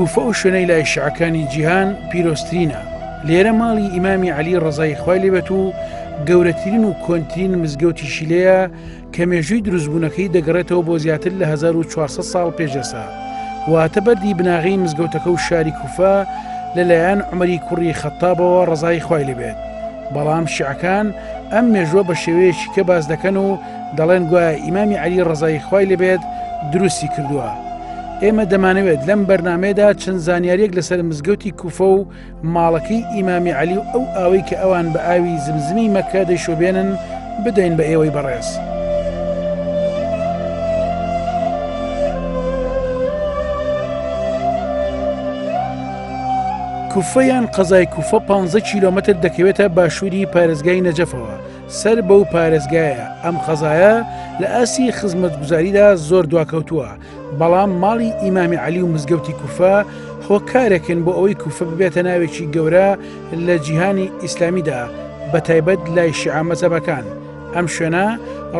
کوفە و شوێنەی لای شعەکانی جیهان پیرۆسترینە لێرە ماڵی ئیمامی علی ڕزای خی لێبێت و گەورەترین و کۆنترین مزگەوتی شیلەیە کە مێژووی دروستبوونەکەی دەگەڕێتەوە بۆ زیاتر لە 1400 ساڵ پێشێسا واتە بەردی بناغی مزگەوتەکە و شاری کوفە لەلایەن عمەری کوڕی خەتابەوە ڕزای خی لەبێت بەڵام شعەکان ئەم مێژووە بە شێوەیەکی کە باز دەکەن و دەڵێن گوایە ئیمامی علی ڕزای خی لەبێت دروستی کردووە ئێمە دەمانەوێت لەم بەرنمەیەدا چەند زانیاریەک لەسەر مزگەوتی کوفە و ماڵەکەی ئیمامی عەلی و ئەو ئاوەی کە ئەوان بە ئاوی زمزمی مەکە دەیشوبێنن بدەین بە ئێوەی بەڕێز. کوفەیان قەزای کوفە 15 کیلومتر دەکەوێتە باشووری پارێزگای نەجەفەوە سەر بەو پارێزگایە ئەم قەزایە لە ئاسی خزمەتگوزاریدا زۆر دواکەوتووە بەڵام ماڵی ئیمامی عەلی و مزگەوتی کوفە هۆکارێکن بۆ ئەوەی کوفە ببێتە ناوێکی گەورە لە جیهانی ئیسلامیدا بە تایبەت لای شیعە مەزەبەکان ئەم شوێنە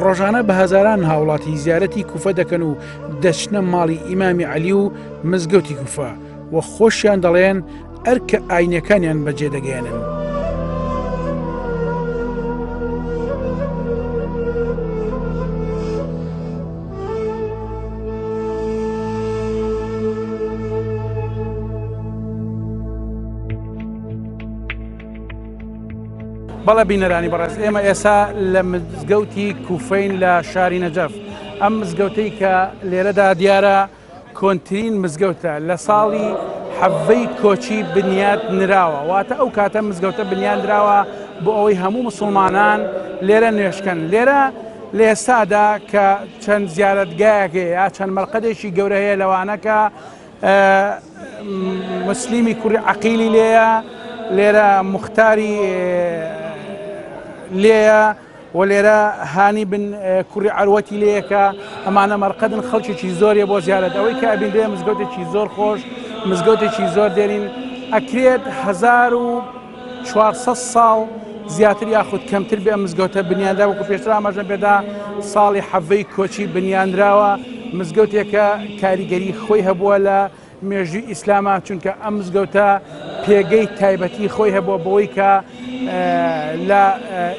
ڕۆژانە بە هەزاران هاوڵاتی زیارەتی کوفە دەکەن و دەچنە ماڵی ئیمامی عەلی و مزگەوتی کوفە و خۆشیان دەڵێن ئەرکە ئاینەکانیان بەجێ دەگەێنن. بەڵە بینەرانی بەڕێز ئێمە ئێسا لە مزگەوتی کوفین لە شاری نەجەف ئەم مزگەوتەی کە لێرەدا دیارە کۆنترین مزگەوتە لە ساڵی حەڤەی کۆچی بنیات نراوە واتە ئەو کاتە مزگەوتە بنیان دراوە بۆ ئەوەی هەموو مسلمانان لێرە نوێشکەن لێرە لە ئێستادا کە چەند زیارەتگایەک یا چەند مەرقەدێکی گەورە هەیە لەوانەکە مسلیمی کوڕی عقیلی لێە لێرە مختاری لێە و لێرە هانی بن کوری عەروەتی لەیەکە ئەمانە مەرقەدن خەڵکیی زۆرێ بۆ زیارەت ئەوەی کە ئەبینرێ مزگەوتێکی زۆر خۆش مزگەوتێکی زۆر دێرین ئەکرێت هزار و 400 ساڵ زیاتر یاخود کەمتر بێ مزگەوتە بنیاندا وەکو پێشتر ئاماژەم پێدا ساڵی حەڤەی کۆچی بنیانراوە مزگەوتێکە کاریگەری خۆی هەبووە لە مێژووی ئیسلامە چونکە ئەم مزگەوتە پێگەی تایبەتی خۆی هەبووە بەوەی کە لە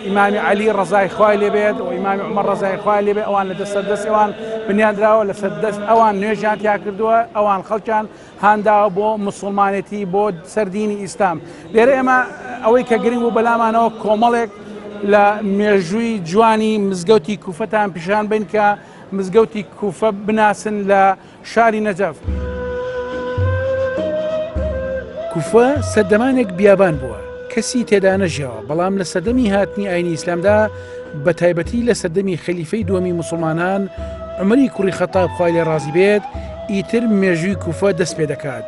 ئیمامی علی ڕزای خوای لێبێت و ئیمامی عمە ڕزای خوای لێبێ ئەوان لە دەسەر دەست ئەوان بنیادراوە لە سەر دەست ئەوان نوێژیان تیا کردووە ئەوان خەڵکیان هانداوە بۆ مسلمانێتی بۆ سەردینی ئیسلام لێرە ئێمە ئەوەی کە گرنگ و بەلامانەوە کۆمەڵێک لە مێژووی جوانی مزگەوتی کوفەتان پیشان بن کە مزگەوتی کوفە بناسن لە شاری نەجەف کوفە سەردەمانێک بیابان بووە کەسی تێدا نەژیاوە بەڵام لە سەردەمی هاتنی ئاینی ئیسلامدا بە تایبەتی لە سەردەمی خەلیفەی دووەمی مسلمانان عمری کوڕی خەتاب خوای لێ ڕازی بێت ئیتر مێژووی کوفە دەست پێ دەکات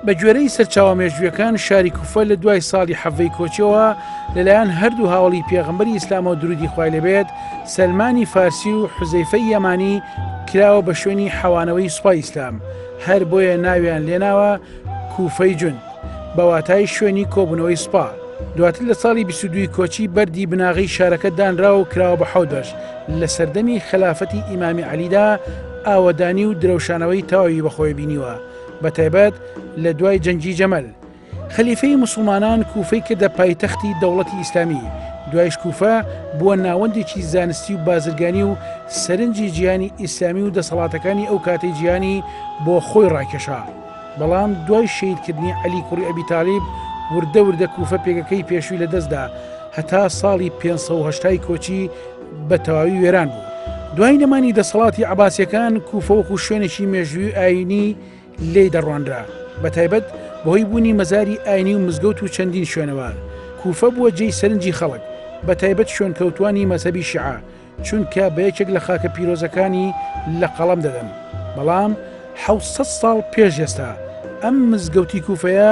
بە گوێرەی سەرچاوە مێژوویەکان شاری کوفە لە دوای ساڵی حەڤەی کۆچیەوە لەلایەن هەردوو هاوەڵی پێغەمبەری ئیسلامەوە دروودی خوای لێبێت سەلمانی فارسی و حوزەیفەی یەمانی کراوە بە شوێنی حەوانەوەی سوپای ئیسلام هەر بۆیە ناویان لێناوە کوفەی جوند بە واتای شوێنی کۆبوونەوەی سوپا دواتر لە ساڵی 22 کۆچی بەردی بناغەی شارەکە دانرا و کراوە بە حەوت بەش لە سەردەمی خەلافەتی ئیمامی عەلیدا ئاوەدانی و درەوشانەوەی تەواوی بەخۆی بینیوە بە تایبەت لە دوای جەنگی جەمەل خەلیفەی مسلمانان کوفەی کردە پایتەختی دەوڵەتی ئیسلامی دوایش کوفە بووە ناوەندێکی زانستی و بازرگانی و سەرنجی جیانی ئیسلامی و دەسەڵاتەکانی ئەو کاتی جیانی بۆ خۆی ڕاکێشا بەڵام دوای شیدکردنی علی کوڕی ئەبی تاالب وردە وردە کوفە پێگەکەی پێشوی لەدەستدا هەتا ساڵی 500 کۆچی بە تەواوی وێران بوو دوای نەمانی دەسەڵاتی عباسیەکان کوفەوەکو شوێنێکی مێژووی ئاینی لی دەڕوانرا بە تایبەت بەهۆی بوونی مەزاری ئاینی و مزگەوت و چەندین شوێنەوە کوفە بووە جێی سەرنجی خەڵک بە تایبەت شوێنکەوتانی مەسەبی شعە چونکە بە یەکێک لە خاکە پیرۆزەکانی لە قەڵم دەدەن بەڵام 600 ساڵ پێش ئێستا ئەم مزگەوتی کوفەیە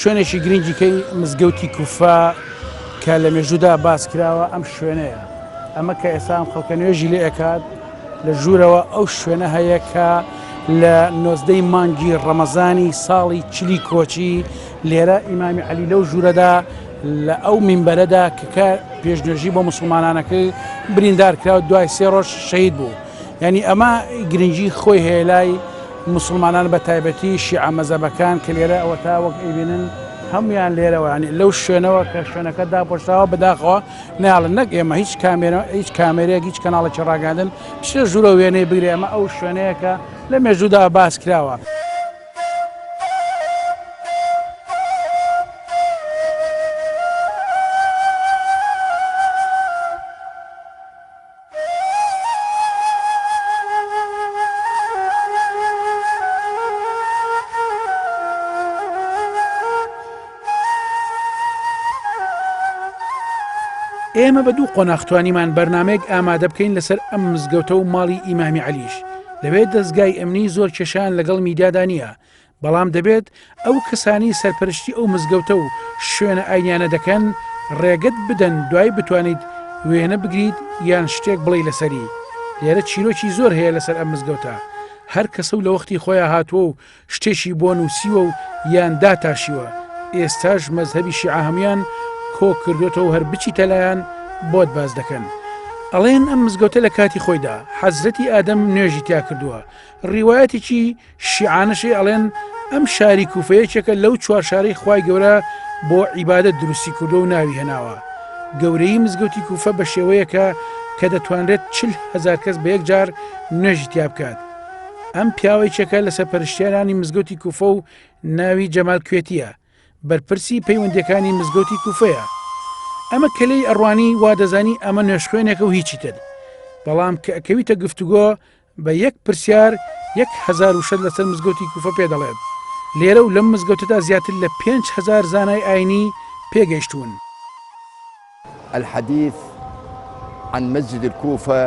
شوێنێکی گرنگ دیکەی مزگەوتی کوفە کە لە مێژوودا باس کراوە ئەم شوێنەیە ئەمە کە ئێستا ئەم خەڵکە نوێژی لێ ئەکات لە ژوورەوە ئەو شوێنە هەیە کە لە نۆزدەی مانگی ڕەمەزانی ساڵی چلی کۆچی لێرە ئیمامی علی لەو ژوورەدا لە ئەو مینبەرەدا کە کە پێشنوێژی بۆ مسلمانانەکەی بریندار کرا و دوای سێ ڕۆژ شەید بوو. یانی ئەمە گرنگی خۆی هەیە لای موسڵمانان بە تایبەتی شیعە مەزەبەکان کە لێرە ئەوەتا وەک ئەیبینن هەمویان لێرەوەیانی لەو شوێنەوە کە شوێنەکە داپۆشراوە بەداخەوە ناڵن نەک ئێمە هیچ کامێرە هیچ کامێرێک هیچ کەناڵێکی ڕاگەاندن شێ ژوورە وێنەی بگرێ ئەمە ئەو شوێنەیەکە لە مێژوودا باس کراوە. ئێمە بە دوو قۆناخ توانیمان بەرنمەیەک ئامادە بکەین لەسەر ئەم مزگەوتە و ماڵی ئیمامی علیش لەوێ دەستگای ئەمنی زۆر کێشان لەگەڵ میدادانە بەڵام دەبێت ئەو کەسانی سەرپەرشتی ئەو مزگەوتە و شوێنە ئاینیانە دەکەن ڕێگەت بدەن دوای بتوانیت وێنە بگریت یان شتێک بڵێ لەسەری لێرە چیرۆکی زۆر هەیە لەسەر ئەم مزگەوتە هەر کەسە و لە وەختی خۆیان هاتووە و شتێکی بۆ نووسیوە و یان داتاشیوە ئێستاش مەزهبی شیعە هەموان کۆ کردوێتەوە هەر بچی تەلایان بۆت باز دەکەن ئەڵێن ئەم مزگەوتە لە کاتی خۆیدا حەزرەتی ئادەم نوێژی تیا کردووە ڕیواەتێکی شیعانەشی ئەڵێن ئەم شاری کوفە یەکێکە لەو چوار شارەی خوای گەورە بۆ عیبادە دروستی کردو و ناوی هێناوە گەورەی مزگەوتی کوفە بە شێوەیەکە کە دەتوانرێت چل هزار کەس بە یەک جار نوێژی تیا بکات ئەم پیاوەی چەکە لە سەرپەرشتێنانی مزگەوتی کوفە و ناوی جەمال کوێتیە بەرپرسی پەیوەندەکانی مزگەوتی کوفەیە ئەمە کەلەی ئەڕوانی وا دەزانی ئەمە نوێشخوێنێکە و هیچی تر بەڵام کە ئەکەویتە گفتوگۆ بە یەک پرسیار یەک هەزار وشەت لەسەر مزگەوتی کوفە پێ دەڵێت، لێرە و لەم مزگەوتەدا زیاتر لە پێنج هەزار زانای ئاینی پێ گەیشتوون. الحدیث عن مسجد الکوفە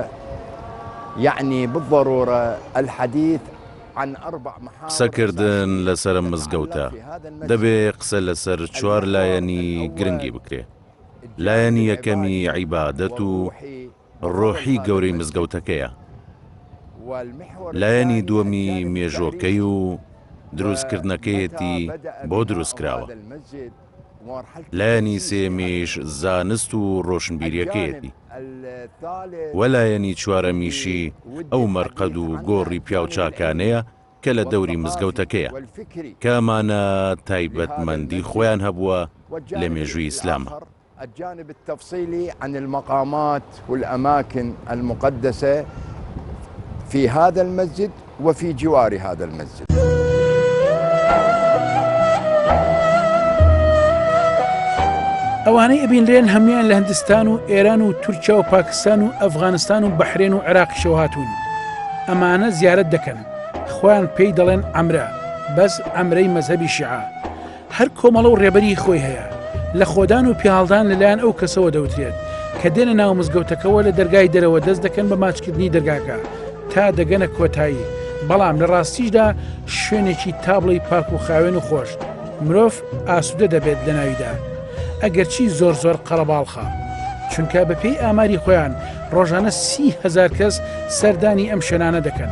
یەعنی بالضرورە الحدیث عن اربع محاور قسە کردن لەسەر ئەم مزگەوتە دەبێ قسە لەسەر چوار لایەنی گرنگی بکرێ لایەنی یەکەمی عیبادەت و ڕۆحی گەورەی مزگەوتەکەیە، لایەنی دووەمی مێژووەکەی و دروستکردنەکەیەتی بۆ دروستکراوە، لایەنی سێیەمیش زانست و ڕۆشنبیریەکەیەتی و لایەنی چوارەمیشی ئەو مەرقەد و گۆڕی پیاوچاکانەیە کە لە دەوری مزگەوتەکەیە کە ئەمانە تایبەتمەندی خۆیان هەبووە لە مێژووی ئیسلامە. الجانب التفصیلی عن المقامات والاماکن المقدسە فی هذا المسجد وفی جوار هذا المسجد. ئەوانەی ئەبینرێن هەموان لە هندستان و ئێران و تورکیا و پاکستان و ئەفغانستان و بەحرێن و عراقیشەوە هاتوون ئەمانە زیارت دەکەن خۆیان پێی دەڵێن ئەمرە بەس ئەمرەی مەذهبی شعە هەر کۆمەڵە و ڕێبەری خۆی هەیە. لەخۆدان و پیاڵدان لەلایەن ئەو کەسەوە دەوترێت، کە دێنە ناو مزگەوتەکەوە لە دەرگای دەرەوە دەست دەکەن بە ماچکردنی دەرگاکە تا دەگەنە کۆتایی، بەڵام لە ڕاستیشدا شوێنێکی تا بڵێی پاک و خاوێن و خۆش، مرۆڤ ئاسوودە دەبێت لەناویدا، ئەگەرچی زۆر زۆر قەرەباڵخە. چونکە بەپێی ئاماری خۆیان ڕۆژانە سی هەزار کەس سەردانی ئەم شوێنانە دەکەن،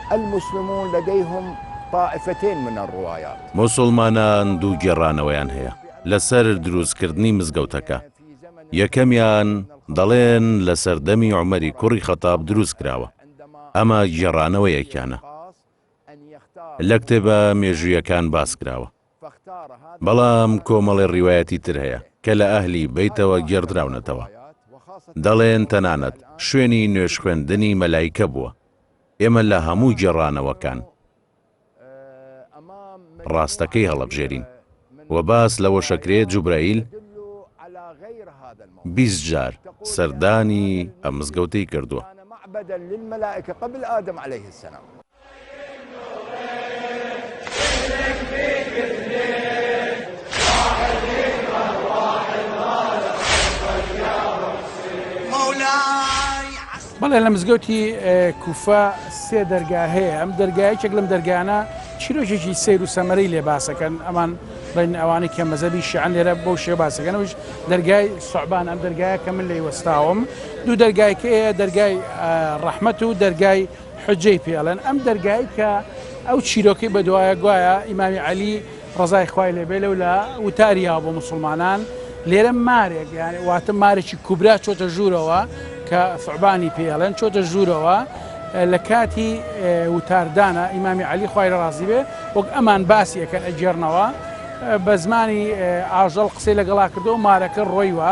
المسلمون لدیهم طائفتین من الروایات. موسڵمانان دوو گێڕانەوەیان هەیە لەسەر دروستکردنی مزگەوتەکە، یەکەمیان دەڵێن لە سەردەمی عومەری کوڕی خەتاب دروستکراوە، ئەمە گێڕانەوەیەکیانە لە کتێبە مێژوویەکان باسکراوە، بەڵام کۆمەڵێ ڕیوایەتی تر هەیە کە لە ئەهلی بەیتەوە گێڕدراونەتەوە دەڵێن تەنانەت شوێنی نوێژ خوێندنی مەلایکە بووە، ئێمە لە هەموو گێڕانەوەکان ڕاستەکەی هەڵەبژێرین و باس لەوەشەکرێ جوبرەئیل بیست جار سەردانی ئەم مزگەوتەی کردووە. بەڵێ لە مزگەوتی کوفە سێ دەرگا هەیە ئەم دەرگایەکێک لەم دەرگانە چیرۆکێکی سیر و سەمەرەی لێ باسەکەن ئەمان بڵێن ئەوانەی کە مەزەبی شیعن لێرە بۆ شێ باسەکەنەوەش دەرگای سوعبان ئەم دەرگایە کە من لی وەستاوم دوو دەرگایکەیە دەرگای ڕەحمەت و دەرگای حجەی پێ ئەڵێن ئەم دەرگای کە ئەو چیرۆکەی بەدوایە گوایە ئیمامی عەلی ڕەزای خوای لێبێ لەو لە وتاریاوە بۆ مسلمانان لێرە مارێک واتە مارێکی کوبرا چۆتە ژوورەوە کە فعبانی پێڵێن چۆتە ژوورەوە لە کاتی وتاردانە ئیمامی علی خوای لە ڕازی بێ وەک ئەمان باسی ئەەکەن ئەگێڕنەوە بە زمانی ئاژەڵ قسەی لەگەڵا کردو مارەکە ڕۆیوە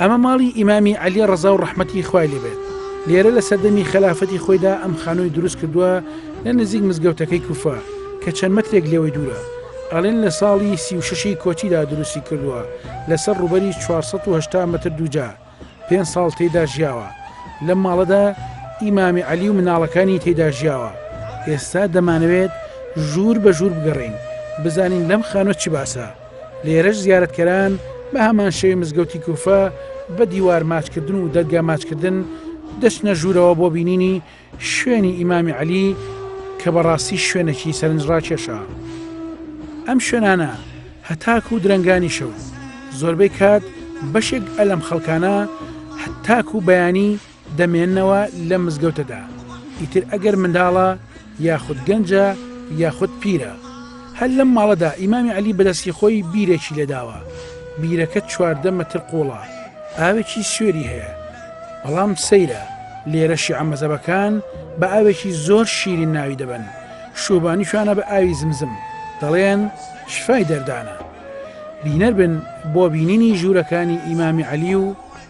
ئەمە ماڵی ئیمامی عەلی ڕەزا و ڕەحمەتی خوای لێ بێت لێرە لە سەردەمی خەلافەتی خۆیدا ئەم خانووی دروست کردووە لە نزیک مزگەوتەکەی کوفە کە چەند مەترێک لێوەی دوورە ئەڵێن لە ساڵی سی و شەشی کۆچیدا دروستی کردووە لەسەر ڕووبەری 480 مەتر دووجا پێنج ساڵ تێیدا ژیاوە لەم ماڵەدا ئیمامی عەلی و مناڵەکانی تێیدا ژیاوە ئێستا دەمانەوێت ژوور بە ژوور بگەڕین بزانین لەم خانوە چی باسە لێرەش زیارەتکەران بە هەمان شێوەی مزگەوتی کوفە بە دیوار ماچکردن و دەرگا ماچکردن دەچنە ژوورەوە بۆ بینینی شوێنی ئیمامی عەلی کە بەڕاستی شوێنەکی سەرنج ڕاکێشە ئەم شوێنانە هەتاکو و درەنگانی شەو زۆربەی کات بەشێک ئەلم خەڵکانە هەتاکو و بەیانی دەمێننەوە لەم مزگەوتەدا ئیتر ئەگەر منداڵە یاخود گەنجە یاخود پیرە هەر لەم ماڵەدا ئیمامی علی بەدەستی خۆی بیرێکی لێداوە بیرەکە چواردە مەتر قوڵە ئاوێکی سوێری هەیە بەڵام سەیرە لێرەشی ئەمەزەبەکان بە ئاوێکی زۆر شیرین ناوی دەبن شوبانی شوانە بە ئاوی زمزم دەڵێن شفای دەردانە بینەر بن بۆ بینینی ژوورەکانی ئیمامی علی و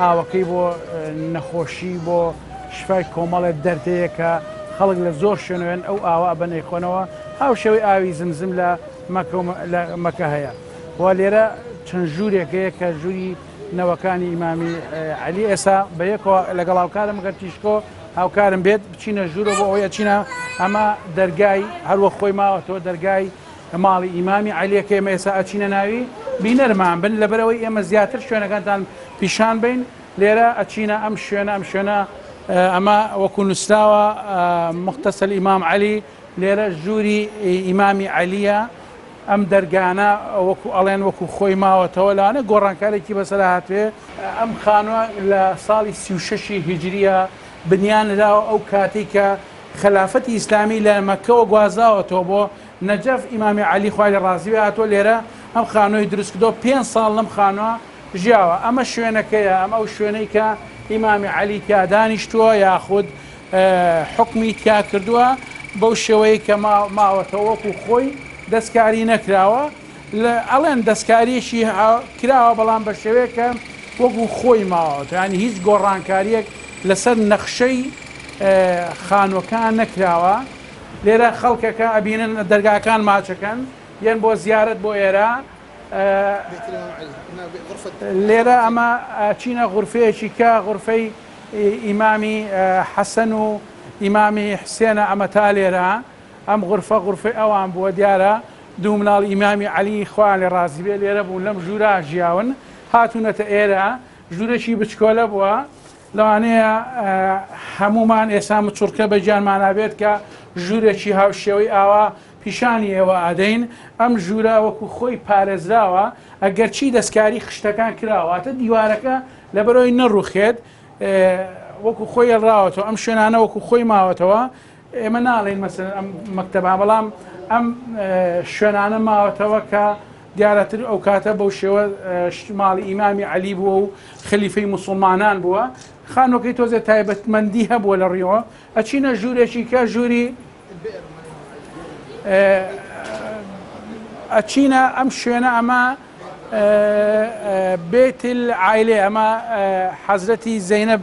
ئاوەکەی بۆ نەخۆشی بۆ شفای کۆمەڵێ دەردەیە کە خەڵک لە زۆر شوێنوێن ئەو ئاوە ئەبەن ئەیخۆنەوە هاوشێوەی ئاوی زمزم لە مەکە هەیە و لێرە چەند ژوورێک هەیە کە ژووری نەوەکانی ئیمامی علی ئێسا بە یەکەوە لەگەڵ هاوکارم گەر تیشکۆ هاوکارم بێت بچینە ژوورە بۆ ئەوەیە چینە ئەمە دەرگای هەروە خۆی ماوەتەوە دەرگای لە ماڵی ئیمامی عەلیە کە ئێمە ئێستا ئەچینە ناوی بینەرمان بن لەبەرئەوەی ئێمە زیاتر شوێنەکانتان پیشان بەین لێرە ئەچینە ئەم شوێنە ئەم شوێنە ئەمە وەکو نووسراوە مختصل ئیمام عەلی لێرە ژووری ئیمامی عەلیە ئەم دەرگانە وەکو ئەڵێن وەکو خۆی ماوەتەوە لاەنە گۆڕانکارێکی بەسەر هاتوێ ئەم خانووە لە ساڵی سی و شەشی هیجریە بنیان نراوە ئەو کاتێک کە خەلافەتی ئیسلامی لە مەکەوە گوازاوەتەوە بۆ نەجەف ئیمامی عەلی خوای لێ ڕازی بێ هاتووە لێرە ئەم خانووەی دروست کردووە پێنج ساڵ لەم خانووە ژیاوە ئەمە شوێنەکەیە ئەم ئەو شوێنەی کە ئیمامی عەلی تیا دانیشتووە یاخود حکمی تیا کردووە بەو شێوەیە کە ماوەتە وەکو خۆی دەستکاری نەکراوە لە ئەڵێن دەستکاریشی کراوە بەڵام بە شێوەیەکە وەکو خۆی ماوەتە ینی هیچ گۆڕانکاریەک لەسەر نەخشەی خانوەکان نەکراوە لێرە خەڵکەکە ئەبینن دەرگاکان ماچەکەن یەن بۆ زیارەت بۆ ئێرە لێرە ئەمە چینە غورفەیەکی کە غورفەی ئیمامی حەسەن و ئیمامی حسێنە ئەمە تا لێرە ئەم غورفە غورفەی ئەوان بووە دیارە دوو مناڵ ئیمامی علی خوان لە ڕازی بێ لێرە بوون لەم ژوورا ژیاون هاتوونەتە ئێرە ژوورەشی بچکۆلە بووە لەوانەیە هەموومان ئێستا مچوڕکە بە گیانمانا بێت کە ژوورێکی هاوشێوەی ئاوا پیشانی ئێوە ئەدەین، ئەم ژوورە وەکو خۆی پارێزراوە ئەگەرچی دەستکاری خشتەکان کراوە واتە دیوارەکە لەبەرئەوەی نەڕوخێت وەکو خۆی هێڵراوەتەوە، ئەم شوێنانە وەکو خۆی ماوەتەوە، ئێمە ناڵێین مەسەلەن ئەم مەکتەبە، بەڵام ئەم شوێنانە ماوەتەوە کە دیارەتر ئەو کاتە بەو شێوە ماڵی ئیمامی عەلی بووە و خەلیفەی موسڵمانان بووە، خانووەکەی تۆزێ تایبەتمەندی هەبووە لە ڕویەوە، ئەچینە ژوورێکی کە ژووری ئەچینە ئەم شوێنە ئەمە بێتیل عیلێ ئەمە حەزرەتی زەینەب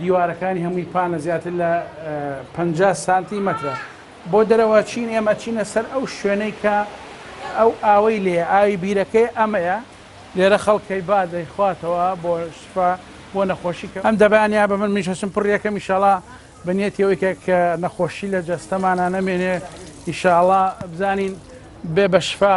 دیوارەکانی هەمووی پانە زیاتر لە پەنجا سانتی مەترە. بۆ دەرەوە چین ئێمە ئەچینە سەر ئەو شوێنەی کە ئەو ئاوەی لێیە، ئاوی بیرەکەی ئەمەیە، لێرە خەڵکەی با دەیخواتەوە بۆ شفا بۆ نەخۆشی. ئەم دەبانە بە من منیش هەستم پڕی ئەکەم ئیشاڵا بە نیەتی ئەوەی کە کە نەخۆشی لە جەستەمانا نەمێنێ ئیشاڵا بزانین بێ بە شفا.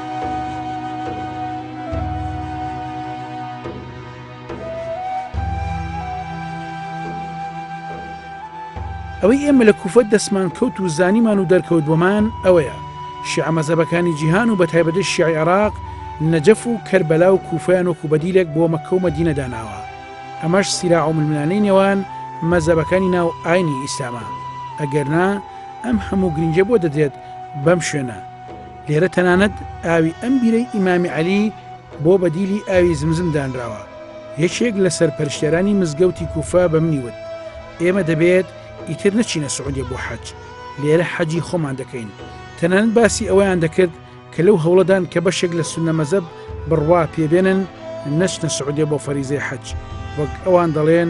ئەوەی ئێمە لە کوفە دەستمان کەوت و زانیمان و دەرکەوت بۆمان ئەوەیە شیعە مەزەبەکانی جیهان و بە تایبەتی شیعی عێراق نەجەف و کەربەلا و کوفیان و کوبەدیلێک بۆ مەکە و مەدینە داناوە ئەمەش سیرا و ململانەی نێوان مەزەبەکانی ناو ئاینی ئیسلامە ئەگەرنا ئەم هەموو گرنگە بۆ دەدرێت بەم شوێنە لێرە تەنانەت ئاوی ئەم بیرەی ئیمامی عەلی بۆ بەدیلی ئاوی زمزم دانراوە یەکێک لە سەرپەرشتێرانی مزگەوتی کوفا بە منی وت ئێمە دەبێت ئیتر نەچینە سعودێ بۆ حەج لێرە حەجی خۆمان دەکەین تەنان باسی ئەویان دەکرد کە لەو هەوڵەدان کە بەشێک لە سنە مەزەب بڕوا پێبێنن نەچنە سعودێ بۆ فەریزەی حەج وەک ئەوان دەڵێن